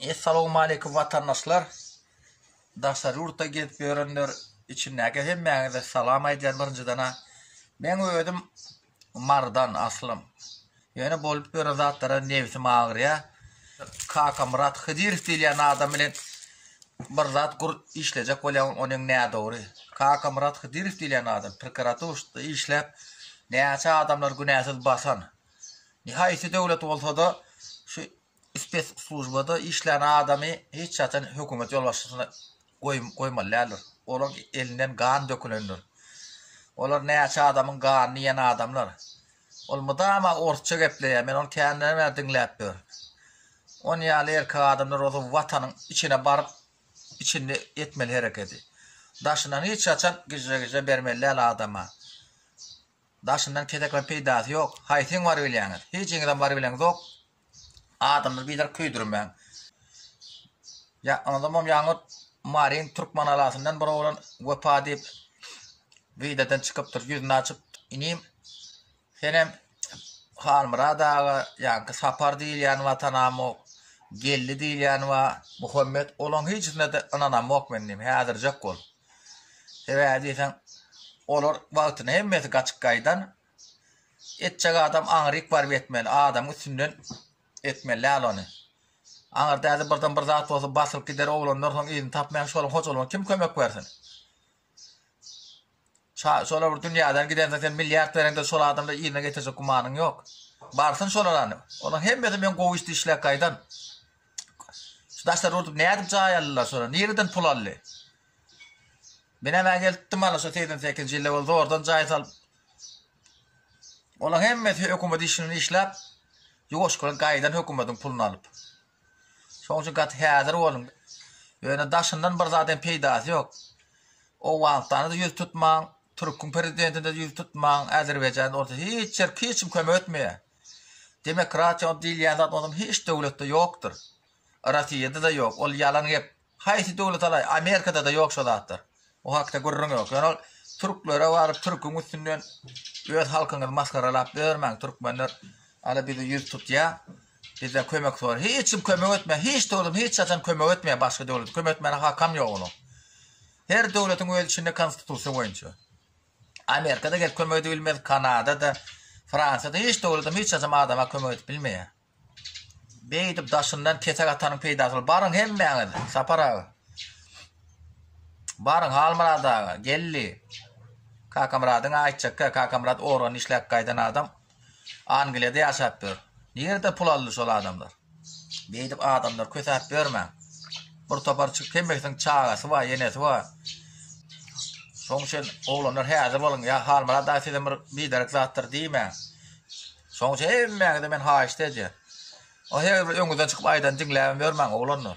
Essalowmaleýkum watandaşlar! Daşary ýurtda gezip ýörenler içindäki hemmäňize salam aýdýan birinjidena. Meň özüm Marydan aslym. Ýöne bolup ýören zatlara nebsim agyrýa. Kakamyrat Hydyrow diýilýän adam bilen bir zat gur işlejek bolýan ony öň nädogry. Kakamyrat Hydyrow diýilýän adam prokuraturşda işläp näçe adamlar günäsiz basan. Nihaýsy döwlet bolsada şu Spesslujbada işlän adamy hiç haçan hökümet ýolbaşçysyna goýmaly däldir. Olaň elinden gan dökülendir. Olar näçe adamyň ganyny iýen adamlar. Ol mydama orsça gepleýär, men ony käninden bäri diňläp ýörün. Ony ýaly erkek adamlar bolsa watanyň içine baryp içinde etmeli herekedi. Daşyndan hiç haçan gijre-gijre bermeli däl adama. Daşyndan kesekleň peýdasy ýok. Haýsyň bar bilýäňiz? Hijiňizem bar bileňizok. Adamyny biderk köýdürmäň. Ýakynadamam ýaňy Maryň Türkmenalasyndan bir oglan Wepa diýip wideodan çykypdyr, ýüzüni açyp, inim, senem Halmyrat aga, ýaňky Sapar diýilýän watanamok, Geldi diýilýän wa, Muhammet, olaň hiçisine-de ynanamok men inim, häzirjek bol. Sebäbi diýseň, olar wagtyna hemmesi gaçyp gaýdan, Etjek adam aňryk baryp etmeli, adamyň üstünden etmeli däl ony. Aňyrda häzir birden bir zat bolsa basylyp gider, oglanlar soň yzyny tapmaýar, şonuň hojalygyna kim kömek bersin? Şa, şolar bir dünýäden gidensoň sen milliard bereňde şol adamlar yzyna getirjek gümanyň ýok. Barsyn şolar hany. Olaryň hemmesi men gowy işdi işläp gaýdan. Şu daşary urdup nädip jaý aldylar şolar? Nireden pul aldy? Men emä gelipdim ana şu 82-nji ýylda ol zordan jaý salyp Olaň hemmesi hökümet işini işläp, ýuwaş bilen gaýdan hökümetiň puluny alyp. Şoň üçin gaty häzir boluň. Ýöne daşyndan bir zat hem peýdasy ýok. Owganystana-da ýüz tutmaň, türküň prezidentine-de ýüz tutmaň, Azerbaýjana bolsa hiç ýer hiç kim kömek etmeýär. Demokratiýa diýilýän zat onsoň hiç döwletde ýokdur. Rossiýada-da ýok, ol ýalan gep. Haýsy döwlet alaý, Amerikada-da ýok şo zatlar. O hakda gürrüň ýok. Ýöne ol türklere baryp türküň üstünden öz halkyňyzy masgaralap ýörmäň, türkmenler ala bizi ýüz tutýa, bizden kömek sora. Hiç kim kömek etmeýä, hiç döwlet hiç haçan kömek etmeýä başga döwlete, kömek etmäne hakam ýok onuň. Her döwletiň öz içinde konstitusiýa boýunça. Amerikada gelip kömek edip bilmez, Kanadada, Fransiýada hiç döwletem hiç haçan adama kömek edip bilmeýä. Beýdip daşyndan kesek atanyň peýdasy bar. Baryň hemmäňiz Sapar aga. Baryň Halmyrat aga, geldi. Kakamyradyň aýtjakka, Kakamyrat organ işläp gaýdan adam. Angliýada ýaşap ýör. Nirede pul aldy şol adamlar? Beýdip adamlary kösäp ýörmäň. Bir topar çyk hemmesiniň çagasy bar, enesi bar. Şoň üçin oglanlar häzir boluň, ýa Halmyrat aga sizem bir biderek zatdyr diýmäň. Şoň üçin hemmäňize men haýyşt edýän. Ony her bir öňüňizden çykyp aýdan diňläbem ýörmäň oglanlar.